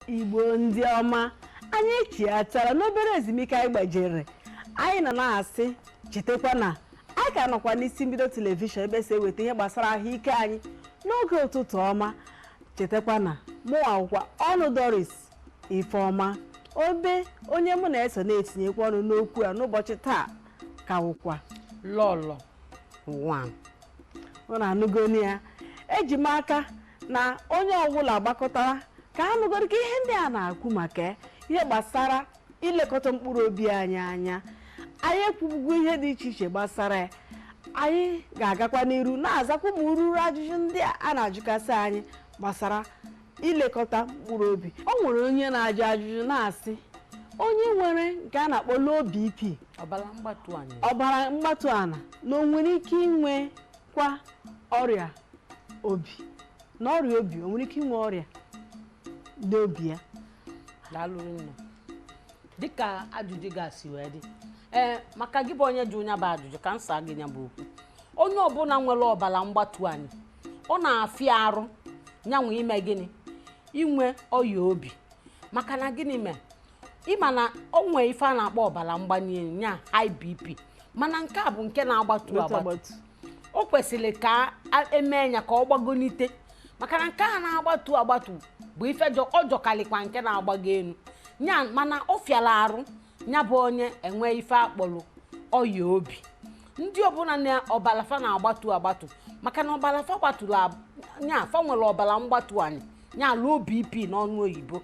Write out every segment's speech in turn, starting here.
igbo ndị ọma anyị echiatara n'obere ezumike anyị gbajere anyị nọ na-asị chetakwa na anyị ka nọkwa n'isi mbido telivishọn ebe e si eweta ihe gbasara ahụike anyị n'oge ụtụtụ ọma chetakwa na mụnwa wụkwa ọnụ doris ifeọma obe onye mụ na-eso na-etinyekwa ọnụ n'okwu a n'ụbọchị taa ka wụkwa lọlọ nwa unu anụgonu ya eji m aka na onye ọbụla gbakọtara ka a nụgoro ka ihe ndị a na-akwu maka ya, ihe gbasara ilekọta mkpụrụ obi anyị anya anyị ekwubugo ihe dị iche iche gbasara ya anyị ga-agakwa n'iru na-azakwa ụmụ ururu ajụjụ ndị a a na-ajụkasị anyị gbasara ilekọta mkpụrụ obi o nwere onye na-ajụ ajụjụ na-asị onye nwere nke a na-akpọ low BP ọbara mgbatu ana na o nwere ike inwe kwa ọrịa obi na ọrịa obi o nwere ike inwe ọrịa n'obi ya daalụ rinne dịka ajụjụ gị si wee dị ee maka gị bụ onye jụrụ nya bụ ajụjụ ka m saa gị nya bụ okwu onye ọbụla nwere ọbara mgbatu anị ọ na-afịa arụ nyanwa ime gịnị inwe ọya obi maka na gịnị mee ị ma na o nwee ife a na-akpọ ọbara mgbali elu ya high bp mana nke a bụ nke na-agbatu agbatu. o kwesịrị ka e mee ya ka ọ gbagonite maka na nke a na-agbatu agbatu bụ ife jọ- ọ jọkarịkwa nke na-agbago elu ya mana ọ fịara arụ ya bụ onye inwe ife akpọrọ ọya obi ndị ọbụla na ọbara fa na-agbatu agbatu maka na ọbara fa gbaturu ya fa nwere ọbara mgbatu anị ya low bp n'ọnụ oyibo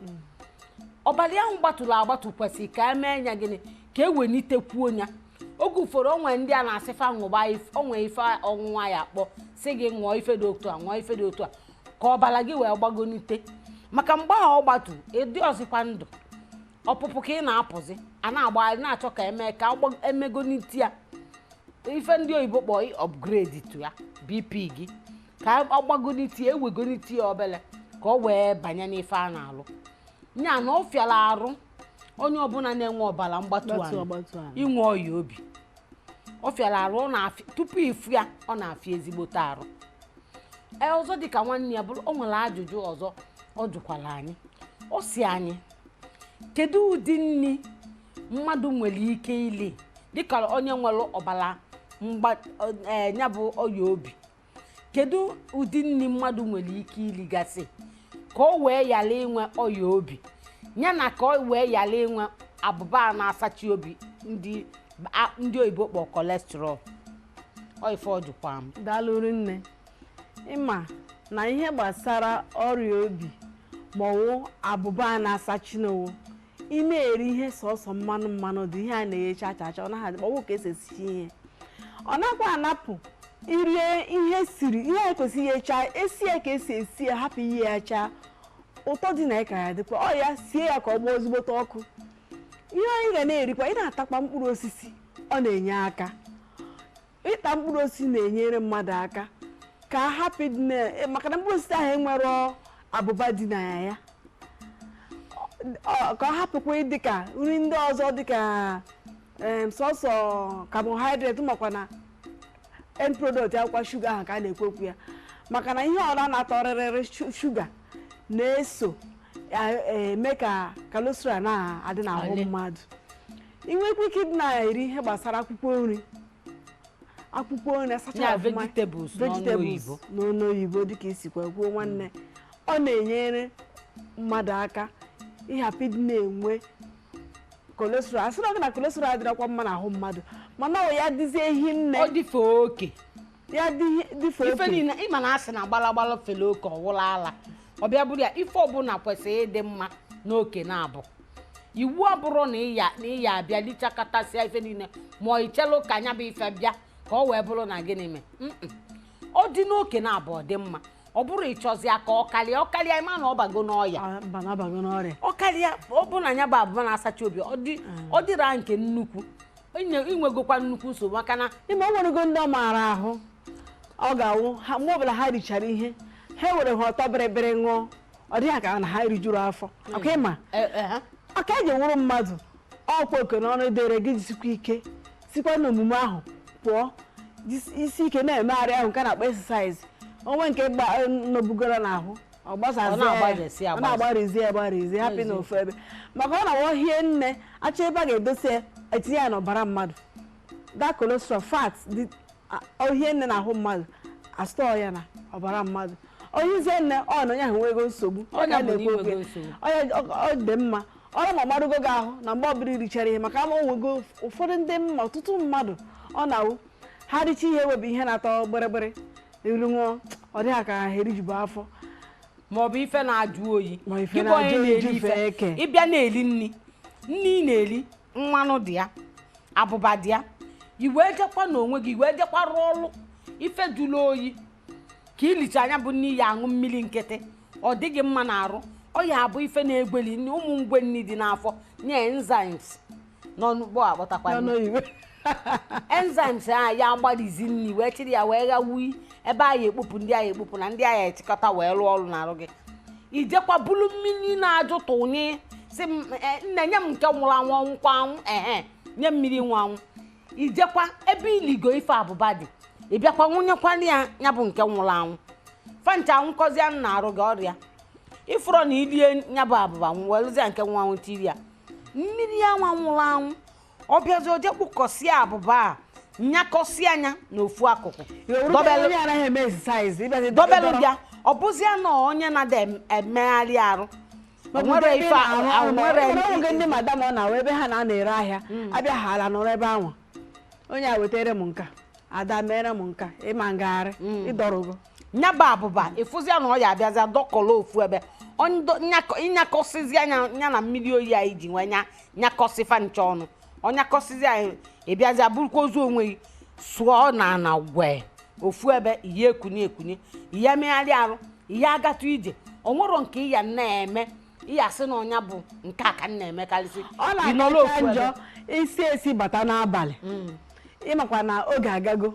ọbara ahụ gbatụrụ agbatụ kwesịrị ka e mee ya gịnị ka e wenitekwuo ya oge ụfọdụ o nwee ndị a na-asị fa ṅụba o nwee ife ọṅụṅụ a ya-akpọ sị gị ṅụọ ife dị otu a ṅụọ ife dị otu a ka ọbara gị wee gbagonite maka mgbe ahụ ọ gbatu ị dịrọzịkwa ndụ ọpụpụ ka ị na-apụzi a na-agbagharị na-achọ ka e mee ka e megonite ya ife ndị oyibo kpọọ upgrade tụ ya bp gị ka ọ gbagonite ya e wegonite ya obele ka ọ wee banye n'ife a na-alụ nya na ọ fịara arụ onye ọbụla na-enwe ọbara mgbatu anị inwe ọya obi ọ fịara arụ tupu ị fụ ya ọ na-afịa ezigbote arụ e, ọzọ dịka nwanne ya bụrụ o nwere ajụjụ ọzọ ọ jụkwara anyị ọ sị anyị kedu ụdị nri mmadụ nwere ike ili dịka onye nwere ọbara e, nya bụ ọya obi kedu ụdị nri mmadụ nwere ike iligasị ka o wee ghara inwe ọya obi ya na ka o wee ghara inwe abụba a na-asachi obi ndị oyibo kpọ kolesterọl oife ọ dịkwa m daalụ rinne ịma na ihe gbasara ọrịa obi maọwụ abụba a na-asachi na ọ wụ ị na-eri ihe sọsọ mmanụ mmanụ dị ihe a na-eghe chaa chaa chaa ọ naghị adị ọwụ ka esi esichi ihe ọ nakwa anapụ iri ihe siri ihe a kwesịrị ighe chaa e sie ya ka esi esi ya hapụ ighe ya chaa ụtọ dị na ya ka ya-adịkwa ọ ya sie ya ka ọ gbaa ezigbote ọkụ ihe anyị ga na-erikwa ị na-atakwa mkpụrụ osisi ọ na-enye aka ịta mkpụrụ osisi na-enyere mmadụ aka ka a hapụ ịdị na- eh, maka na mkpụrụ osisi ahụ enwerọ abụba dị na ya ka ọ hapụkwa ịdị ka nri ndị ọzọ dị ka em, sọsọ carbohydrate makwa na end product ya wụkwa shuga ahụ ka a na-ekwu okwu ya maka na ihe ọwụla na-atọ bịrịbịrị shuga na-eso eme ka kolesterọl na-adị n'ahụ mmadụ ị nwekwa ike ịdị na-eri ihe gbasara akwụkwọ nri akwụkwọ nri asacha vegetables n'ọnụ oyibo dịka i sikwa kwuo nwanne ọ na-enyere mmadụ aka ịhapụ ịdị na-enwe kolesterọl asịrọ gị na kolesterọl adịrọkwa mma n'ahụ mmadụ mana ọ ya dịzie ehi nne ọ dịfe oke ya dịfe ife niile ịma na a sị na gbalagbala fele oke ọ wụlụ ala ọ bịa bụrụ ya ife ọbụla kwesịrị ịdị mma n'oke na-abụ iwu abụrụ na ị ya-abịa lichakatasịa ife niile ma i chelụ ka nya bụ ife bịa ka ọ wee bụrụ na gịnị mee ọ dị n'oke na-abụ ọ dị mma ọ bụrụ ị chọzie ka ọ karịa ọ karịa ịma na ọ bago n'ọya ọ karịa ọ bụ na nya bụ abụba na-asachi obi ọ dịra nke nnukwu i nwegokwa nnukwu nsogbu maka na ị ma o nwerego ndị ọ maara ahụ ọ ga-awụ mgbe ọbụla ha richara ihe ha were ihe ọtọ bịrịbịrị ṅụọ ọ dị ha ka na ha rijuru afọ hmm. ọ ka ịma e, e, ọ ka e ji wụrụ mmadụ ọ kwa oke na ọrụ dịịrị gị jisikwa ike sikwa n'omume ahụ pụọ jisie ike na-emegharị ahụ nke a na-akpọ exercise o nwee nke nọbugoro n'ahụ ọ na-agbarizi ya agbarizi hapụ n'ofu ebe maka ọ na-awụ o hie nne achọ ebe a ga-edosa ya etinye ya n'ọbara mmadụ that cholesterol fat o hie nne n'ahụ mmadụ astọọ ya na ọbara mmadụ o hizie nne ọ na onye ahụ nwego nsogbu ọ na-ekwu okwu ya ọ dị mma ọ wụrụ ma ọ marago gị ahụ na mgbe ọbụla i richara ihe maka ị ma o nwego ụfọdụ ndị m ma ọtụtụ mmadụ ọ na-awụ ha richa ihe were ihe na-atọ bịrịbịrị ilu ṅụọ ọ dịghị ka ha erijubu afọ ma ọ bụ ife na-ajụ oyi ị bịa na-eli nni nni ị na-eli mmanụ dị ya abụba dị ya i wee jekwa n'onwe gị i wee jekwa rụọ ọrụ ife jụrụ oyi ka i lichaa nya bụ nni ị ya aṅụ mmiri nkịtị ọ dịghị mma n'arụ ọ ya abụ ife na-egweli nni ụmụ ngwe nni dị n'afọ nye enzymes n'ọnụ Igbo akpọtakwa enzymes a ya agbalizi nri wee chịrị ya wee ghawui ebe a ya ekpopụ ndị a ya ekpopụ na ndị a ya echịkọta wee rụọ ọrụ n'arụ gị i jekwa bulu mmiri na-ajụ tụnye sị nne nye m nke nwụrụ anwụ ọnwụkwa anwụ ehe nye m mmiri nwụrụ anwụ i jekwa ebe i ligo ife abụba dị ị bịakwa ṅụnyekwa ya bụ nke nwụrụ anwụ fa ncha anwụkọzie n'arụ gị ọrịa ị fụrọ na i lie ya bụ abụba welụzia nke nwụrụ anwụ tiri ya mmiri anwa nwụrụ anwụ ọ bịazi o je kpụkọsịa abụba a nyakọsịa nya n'ofu akụkụ dobelụ bịa ọ bụzịa na onye na-ada emegharị arụ nwere ndị madam ọ na-awa ebe ha na-anọ ere ahịa hmm. a bịa ha ala nọrọ ebe anwa onye a wetara m nke a Ada mere m nke a ị ma agagharị hmm. ị dọrọgo nya bụ abụba ị fụzia na ọ ya abịazịa dọkọrọ ofu ebe nyakọsịzia nya ya na mmiri oyi a i ji wee nyakọsị fa ncha ọnụ ọ nyakọsịzia ị bịazịa burukwa ozu onwe gị sụọ n'ana gwe ofu ebe ị ya ekuni ekuni ị ya emegharị arụ ị ya agatụ ije o nwero nke ị ya na-eme ị ya sị na ọ nya bụ nke a ka m na-emekarịsị ọ na-akacha njọ i si ezi bata n'abalị ị makwa na oge agago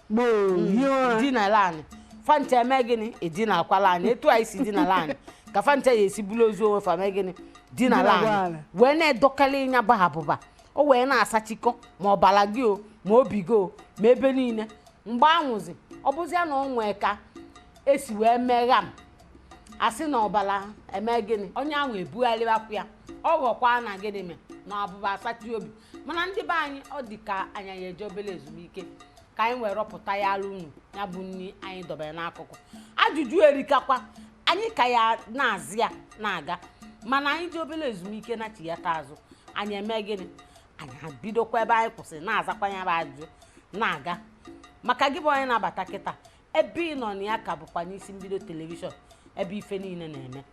gboo mm. hie ụra dinala anị fa ncha eme gịnị edinakwala anị etu a i si dinala anị ka fa ncha ya esi buru ozu onwe fa mee gịnị dinala anị wee na-edokali nya bụ abụba o wee na-asachikọ ma ọbara gị o ma obi gị o ma ebe niile mgbe anwa zi ọ bụzịa na ọ nwee ka e si wee megha m a sị na ọbara eme gịnị onye ahụ ebugharịwakwu ya ọ ghọkwa na gịnị mee na abụba asachi obi mana ndị be anyị ọ dị ka anyị ya eje obere ezumike ka anyị wee rọpụta ya alụ unu ya bụ nri anyị dobere n'akụkụ ajụjụ erikakwa anyị ka ya na-aza ya na-aga mana anyị jee obere ezumike nachighata azụ anyị eme gịnị anyị ebidokwa ebe anyị kwụsịrị na-azakwa ya bụ ajụjụ na-aga maka gị bụ onye na-abata kịta ebe ị nọ na ya ka bụkwa n'isi mbido telivishọn ebe ife niile na-eme